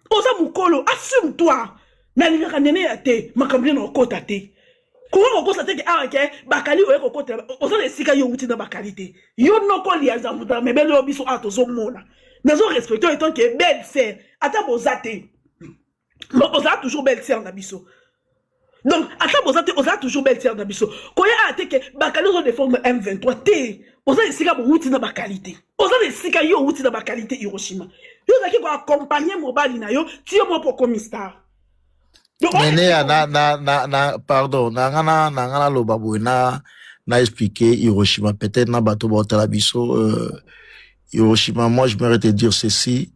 oza mokolo assume toi nalingaka nene ya te makambo nene okota te koka kokosa te ke awa ah, ke bakali oye kokotela oza na esika yo outi na bakali te yo noko lia zambuta mebele yo biso awa tozomona nazo respecte oyo etanke belle sere ata boza te mais ozala toujours belle sœur na biso donc ata boza te oza toujours belle sœur na biso koya aya te ke bakali ozo défendre m23 te oza esika bowuti na bakalite oza na esika yo owuti na bakalite hiroshima yo ozalaki koaccompagne mobali na yo ti yo moko okomi star neneya na, na, na, na, pardon nanga na, nanga naloba boye na na expliqué hiroshima peut-être na bato baotala biso euh, hiroshima moi je mairais te dire ceci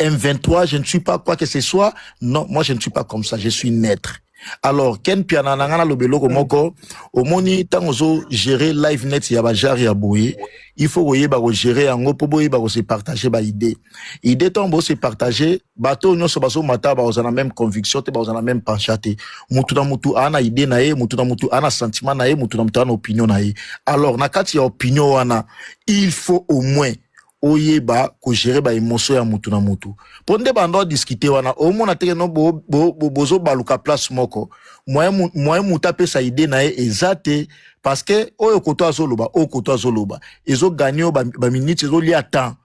M23, je ne suis pas quoi que ce soit. Non, moi je ne suis pas comme ça, je suis neutre. Alors, Ken Piana Nangana Lobeloko mm. Moko, Omoni, Tangozo, gérer live net ya Bajari ya Boye, il faut voyez ba gérer en gros, Boye ba se partager ba idée. Idée tombe se partager, bateau nyon so baso mata ba la même conviction, te ba la même penchate. Mutu na mutu ana idée na ye, mutu na mutu ana sentiment na ye, mutu na mutu ana opinion na ye. Alors, na kati ya opinion wana, il faut au moins oyeba ko gérer ba emotion ya mutu na mutu po nde banda o discuter wana omona teke no bo, bo, bo, bozo baluka place moko moyen moyen mutu apesa idée na ye eza te parce que oyo koto azoloba oyo koto azoloba ezo gagner ba, ba minutes ezo lia temps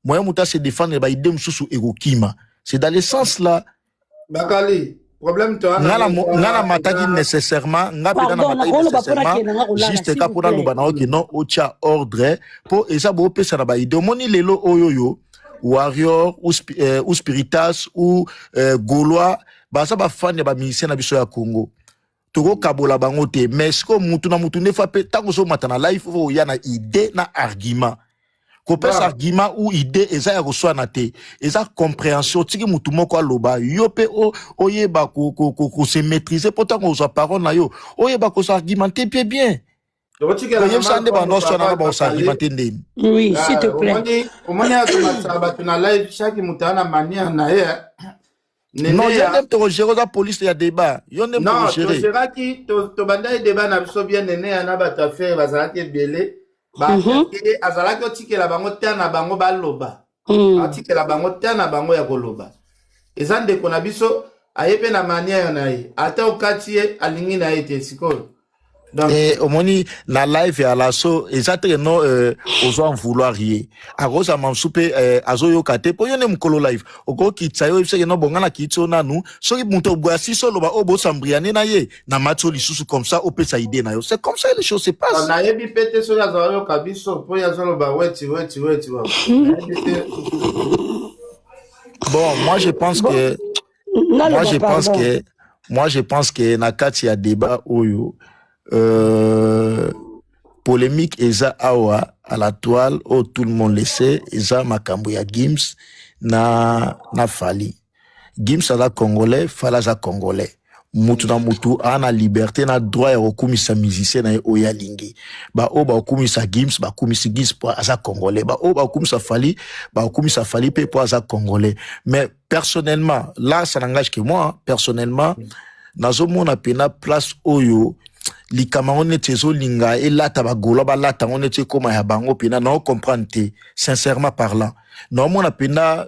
moyen mutu a se défendre ba idée mosusu ekokima c'est dans le sens là Bakali, problème toi nga na mo- nga na mataki nécessairement nga mpenza na Pardon, mataki nakoloba mpo nécessairement nakenda nga kolala, juste s'il ka vous mpo plaît. naloba na yo ke non otya ordre mpo eza boopesa na baide omoni lelo oyo oyo warrior ou, spi- eh, ou spiritas ou eh, golois baza bafani ya bamusicien na biso ya congo tokokabola bango te mais sikoyo mutu na mutu ndefa mpe ntango ozomata na life fo oya na idée na argument kopesa argument ou idée eza ya koswana te eza comprehension otiki mutu moko aloba yo mpe oyeba kose maîtrise mpo ntango ozwa parole na yo oyeba kose argumente mpe bien toyebisa nde bando aswana na baosantima te ndeni oui s'il te plaît omoni akomatisa bato na live chaque moto ana manière na ye non yo nde tokogere oza police ya débat yo nde togeraki tobandaki débat na biso bien neneya na bato ya fere bazalaki ebele mhm. azalaki otikela bango te na bango baloba mm. atikela bango temps na bango ya koloba eza ndeko na biso aye mpe na manière na ye ata okati ye alingi na ye te sikoyo Eh, omoni na live ya laso eza teke no eh, ozwa vouloir ye akozama mosusu mpe eh, azoyoka te mpo yo nde mokolo live okokitisa yo oyebiseke no bonga na kiiti yo nanu soki moto boyasisi oloba oyo bosambriane na ye na matio lisusu comme ça opesa idée na yo c'est comme ça les choses se passent nayebi mpe te soki azala yoka biso mpo ye azoloba weti weti weti wa bon moi je pense que moi je pense que moi je pense que na kati ya débat oyo euh, polémique eza awa à la toile oyo tout le monde le sait eza makambo ya gims na na fali Gims aza congolais, Fala aza congolais. mutu na mutu ana liberté na droit ya kokumisa musicien na ye oyo alingi baoyo bakokumisa gims bakumisi gims mpo aza congolais baoyo bakokumisa fali bakokumisa fali mpe mpo aza congolais mais personnellement là ça n'engage que moi personnellement nazomona mpena place oyo likama yango neti ezolinga elata bagola balata yango neti ekóma ya bango mpena nao comprendre te sincèrement parlant naomona mpena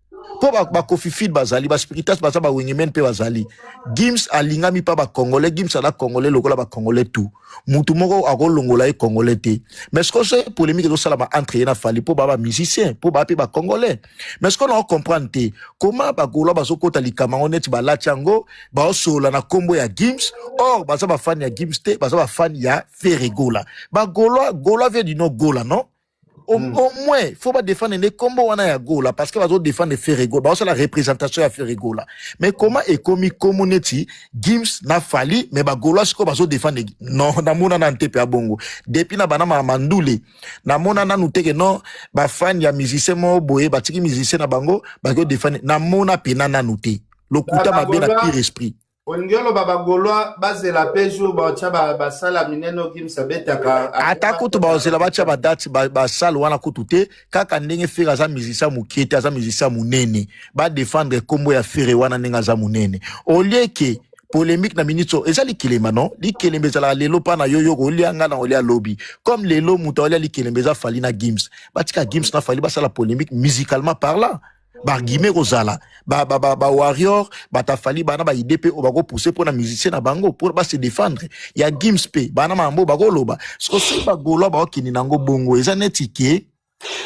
mpo bakofifil bazali baspiritas baza bawengemen mpe bazali gims alingami mpa bacongolais gims aza congolais lokola bacongolais tu motu moko akolongola ye congolais te mais siko se polémique ezosalama entre ye na fali mpo baa bamusicien mpo baa mpe bacongolais mais siko nao comprendre te koma bagolois bazokota likama yango neti balati yango baosolola na nkombo ya gims or baza bafani ya gims te baza bafani ya feregola bagolois golois vie dino gola non au, mm. au moins faut ba défendre les combos wana ya gola parce que bazo défendre ferrego ba la représentation ya ferrego là mais comment ekomi komo neti gims na fali mais ba gola siko bazo défendre non na mona na ntepe ya bongo depuis na bana ma mandule na mona na nuteke non ba fan ya musicien mo boye ba tiki musicien na bango ba ko défendre na mona pena na noute lokuta mabe na pire esprit olingi oloba bagolois bazela mpe jour batya basala minene okimisa betaka ata kutu bazela batya badate basale wana kutu te kaka ndenge fere aza musicien mokie te aza musicien monene badefendre nkombo ya fere wana ndenge aza monene olie ke polemique na ministre eza likelemba non likelemba ezalaka lelo mpa na yo yoko olia ngai na olia lobi comme lelo moto aolia likelemba eza fali na gims batika gims na fali basala polemique musicalement parlant barguime ekozala bawarrior batafali bana baide mpe oyo bakopuse mpo na musicien na bango mpo base defendre ya gims mpe bana mambo bakoloba soko soki bagolois bakokende na yango bongo eza neti ke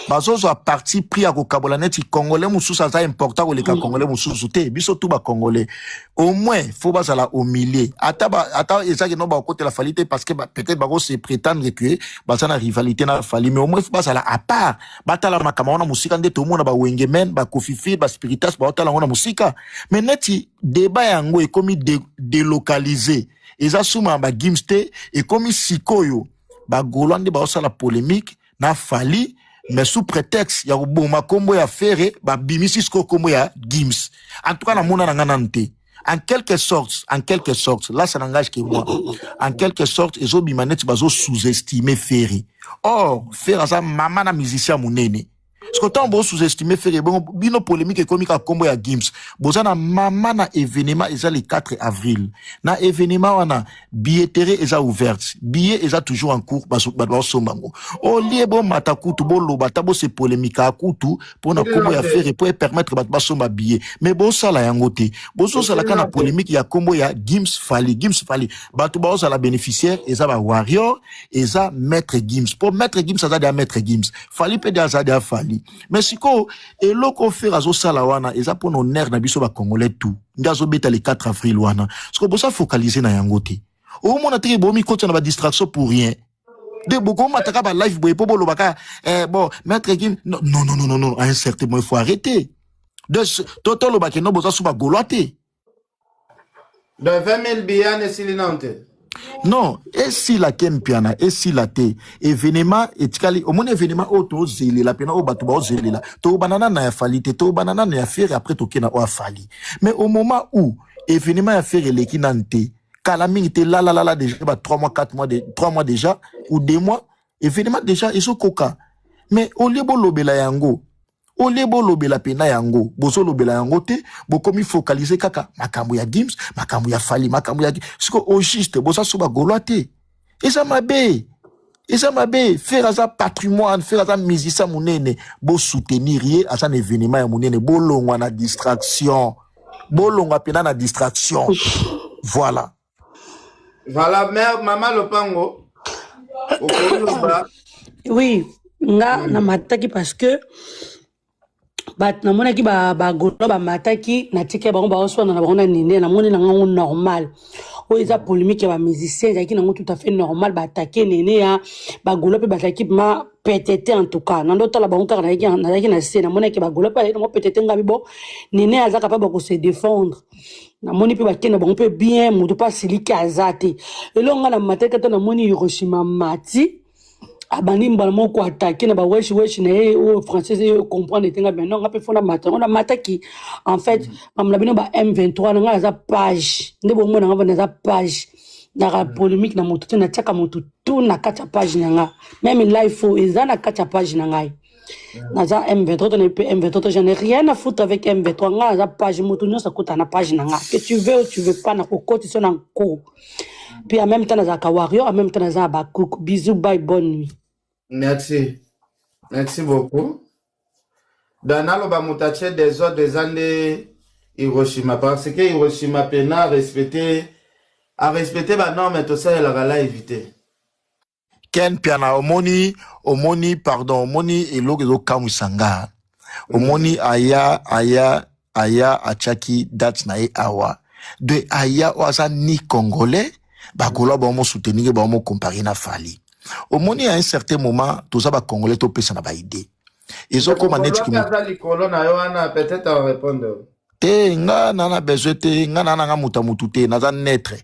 bazozwa parti pris ya kokabola neti congolais mosusu aza important koleka mm. congolais mosusu te biso tu bacongolais au moins fo bazala au milieu ata, ba, ata ezaki no bakokotela fali te parce que peut-être bakose prétendre que baza na rivalité na fali mais au moins fo bazala à part batala makama wana mosika nde tomona ba wengemen ba kofifi ba spiritas baotala yango na mosika me neti deba yango ekomi de, delocalise eza suma ya bagims te ekomi sikoyo bagolwa nde baosala polemique na fali mais sous prétexte ya koboma nkombo ya fere babimisi sikoyo nkombo ya gims en tout cas namona na ngai nanu te en quelque sorte en quelque sorte là ça n'engage que moi en quelque sorte ezobima neti bazo sous-estime ferre or ferre aza mama na musicien monene siko ntango bo sous-estime ferre bongo bino polémique ekomi kaka nkombo ya gims boza na mama na événement eza le 4 avril na événement wana billetterie eza ouverte billet eza toujours en cours bato baosomba yango olie bomata kutu boloba ata bose polemika kutu mpo na nkombo ya fere mpo epermettre bato basomba billet mais bosala yango te bozosalaka na polemike ya nkombo ya gims fali gims fali bato baozala bénéficiaire eza ba warrior eza maître gims mpo maître gims aza deya maître gims fali mpe de aza deya fali mais sikoyo eloko fere azosala wana eza mpo na honneur na biso bacongolais tout nde azobeta le 4 avril wana sikoyo bosa focalise na yango te omona teke bomikotya na badistraction pour rien de bokomataka balive boye mpo bolobaka eh, bon maître kim non non non non non à un certain moment il faut arrêter de totolobake no boza so bagolois te Donc 20 000 billets esili nanu te non esila ke mpiana esila te evenema etikali omoni evenema oyo tozelela mpena oyo bato baozelela toyobana nana ya fali te toyobana nana ya fere apres toke na oyo afali mais au moment où evenema ya fere eleki nanu te kala mingi te lalalala déjà ba 3 mois 4 mois de, 3 mois déjà ou 2 mois evenema déjà ezokoka mais olie bolobela yango Au lieu bolobela pena yango, bozolobela yango te, bokomi focaliser kaka makambo ya Gims, makambo ya Fally, makambo ya siko au juste boza so ba golois te. Eza mabe. Eza mabe, Ferre aza patrimoine, Ferre aza musicien munene, bo soutenir ye, aza na evenement ya munene, bolongwa na distraction. Bolongwa pena na distraction. Voilà. Voilà, mère, maman Lopango. Oui, nga mm. na mataki parce que bato namonaki bagolo bamataki natikaki bango baoswana na bango na nini namoni na ngango normal oyo eza polémique ya bamusicien ezalaki nango tout à fait normal baatake nene ya bagolo mpe bazalaki ma petete en tout cas nando otala bango kaka nazalaki na se namonaki bagolo mpe azalaki nango petete ngabi bo nene azaka mpe bakose défendre namoni mpe bakenda bango mpe bien moto mpe asiliki aza te elongo nga na mataki ata namoni hiroshima mati abandi mbala moko koatake na baweshi weshi na ye oyo française ye comprendre te nga bino nga mpe fona mata yango namataki en fait mamla bino ba m23 na nga naza page nde bomona nga naza page naka polémique na moto te natiaka moto tu na kati ya page na nga meme life oyo eza na kati ya page na ngai naza m23 tonayebi mpe m23 je n'ai rien à foutre avec m23 ngai naza page moto nyonso akota na page na ngai que tu veux ou tu veux pas nakokotisa na nko mpe en même temps nazalaka warrior en même temps naza abakuk bisous bye bonne nuit merci merci beaucoup da naloba moto atie desordre eza nde hiroshima parce que hiroshima mpena arespecte arespecte banorme tosalelaka live te ken piana omoni omoni pardon omoni eloko ezokamwisa nga omoni mm. aya aya aya atiaki date na ye awa de aya oyo aza ni congolais bakolo bango mosutenike bango mokompare na fali omoni ya un certain moment toza bacongolais topesana baide ezokoma neti likolo na yo wana peut-être arepondre te nga na na besoin te nga na nanga muta mutu te naza neutre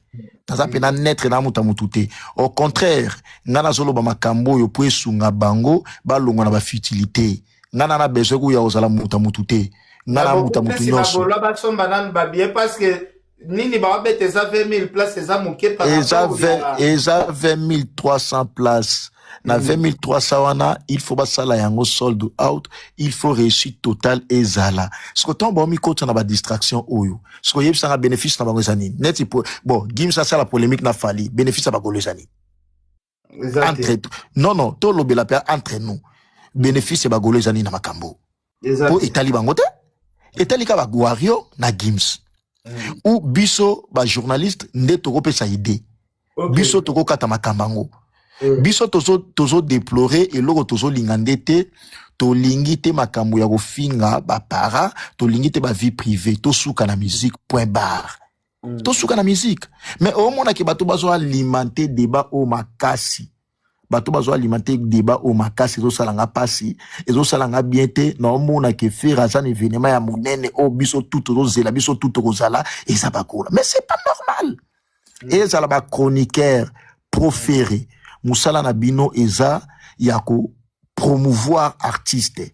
naza mpe na neutre na muta mutu te au contraire nga nazoloba makambo oyo mpo esunga bango balongwa na bafutilité nga na na besoin kuya kozala muta mutu te nga na muta mutu nyonso nini baobeta eza 20000 place eza moke par eza rapport ya ve- eza 20300 place na 20300 wana il faut basala yango sold out il faut réussite totale ezala siko ntango baomikota na badistraction oyo siko oyebisanga bénéfice na bango eza nini neti po- bon gims asala polémique na fali bénéfice ya bakolo eza nini entre non non tolobela mpe entre nous bénéfice ya bagolo eza nini na makambo mpo etali bango te etali ka baguario na gims mm. ou biso bajournaliste nde tokopesa idée okay. biso tokokata makambo yango mm. biso tozodeplore tozo eloko tozolinga nde te tolingi te makambo ya kofinga bapara tolingi te bavie privé tosuka na musique point barre Mm. tosuka na musique mais omonaki bato bazo alimente débat oyo makasi bato bazo alimente débat oyo makasi ezosala nga mpasi ezosala nga bien te naomonaki fere aza na événement ya monene oyo biso tout tozozela biso tout tokozala eza bakola mais c'est pas normal mm. ezala bachroniqueur profere mosala na bino eza ya ko promouvoir artiste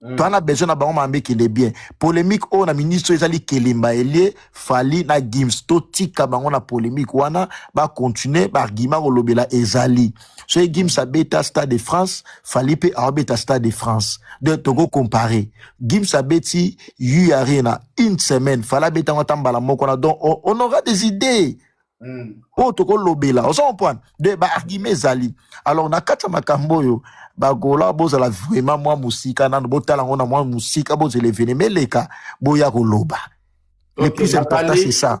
Mm. toza na besoin na bango makambo ekende bien polemique oyo na ministre ezali kelemba elie fali na gims totika bango na polemique wana bacontinue baargument kolobela ezali soki gims abeta stade de france fali mpe aobeta stade de france de toko compare gims abeti u arena une semaine fali abeta yango ata mbala moko na donc on aura des idées Mm. oyo tokolobela oza comprendre de baargument ezali alors na kati ya makambo oyo bagola bozala vraiment mwa mosika nano botala yango na mwa mosika bozela evenema eleka boya koloba le Okay, plus important bakali- c'est ça